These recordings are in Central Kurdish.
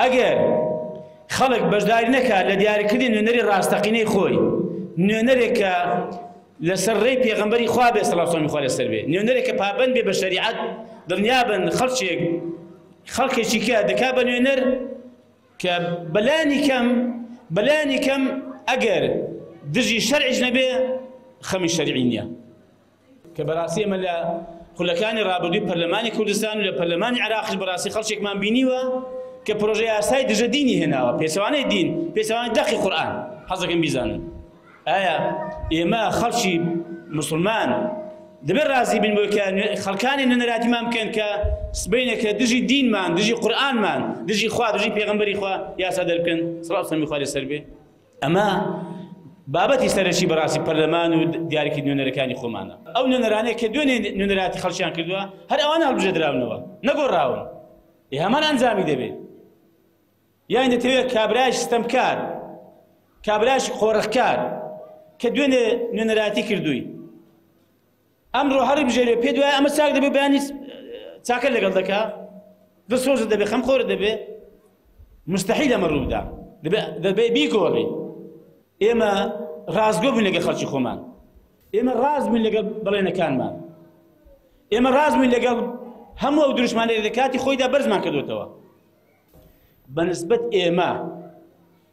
ئەگەر خەڵک بەشداری نەکات لە دیاریکردنی نوێنەری ڕاستەقینەی خۆی نوێنەرێک کە لەسەر ڕێی پێغمبەری خوا بێ سەڵاسۆمی خۆ لەسەر بێ نوێنەرێک کە پابند بێ بە شەریعەت دڵنیا بن خەڵکێک خەڵکێکی کە دەکا بە نوێنەر کە بەلانی کەم بەلانی کەم ئەگەر دژی شەرعیش نەبێ خەمی شەرعی نییە کە بەراستی ئێمە لە خولەکانی ڕابردووی پەرلەمانی کوردستان و لە پەرلەمانی عێراقش بەراستی خەڵکێکمان بینیوە کە پرۆژە یاسای دژە دینی هێناوە پێچەوانەی دین پێچەوانەی دەقی قورئان حەزەکەم بیزانن ئایا ئێمە خەڵکی مسلمان دەبێ ڕازی بین بۆی کە خەڵکانی نەنەراتیمان بکەن کە سبینە کە دژی دینمان دژی قورآنمان دژی خوا دژی پێغمبەری خوا یاسا دەرکەن سڵاو سەمی خوارێ سەر بێ ئەمە بابەتی سەرەکی بەڕاستی پەرلەمان و دیارکی نوێنەرەکانی خۆمانە ئەو نوێنەرانەیە کە دوێنێ نوێنەراتی خەڵکیان کردووە هەر ئەوان هەڵبژێدراونەوە نەگۆڕاون ئێ هەمان ئەنجامی دەبێت یان دەتەوێت کابراش ستەمکار کابراش خۆڕخکار کە دوێنێ نوێنەراتی کردووی ئەمرۆ هەڕی بژێرێ پێت وایە ئەمە چاک دەبێ بەیانی چاکە لەگەڵ دەکا دڵسۆزت دەبێ خەمخۆر دەبێ مستحیل ئەمە ڕوودا دەبێ بیگۆڕی ئێمە ڕازگۆ بووین لەگە خەڵکی خۆمان ئێمە ڕاز بووین لەگەڵ بڵێنەکانمان ئێمە ڕاز بووین لەگەڵ هەموو ئەو دروشمانێک لە کاتی خۆیدا بەرزمان کردوێتەوە بەنسبت ئێمە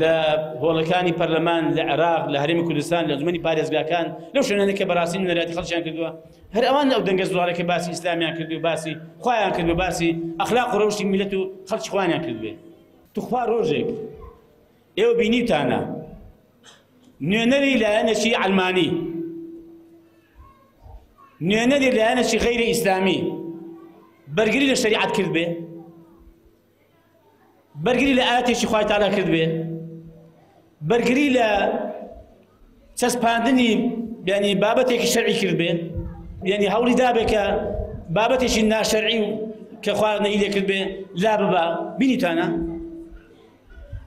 لە هۆڵەکانی پەرلەمان لە عێراق لە هەرێمی کوردستان لە ئەنجومەنی پارێزگاکان لەو شوێنانە کە بەڕاستی نوێنەرایەتی خەڵکیان کردووە هەر ئەوان ئەو دەنگە زوڵانە کە باسی ئیسلامیان کرد و باسی خۆیان کرد و باسی ئەخلاق و ڕەوشی میلەت و خەڵکی خوانیان کردوێ توخوا ڕۆژێک ئێوە بینیوتانە نوێنەری لایەنەکی ئەلمانی نوێنەری لایەنەکی غەیری ئیسلامی بەرگری لە شریعەت کرد بێ بەرگری لە ئاەتێکی خوای تالا کرد بێ بەرگری لە چەسپاندنی ینی بابەتێکی شەرعی کرد بێ ینی هەوڵی دابێ کە بابەتێکی ناشەرعی و کە خواردنەی لێکرد بێ لا ببا بینیتانە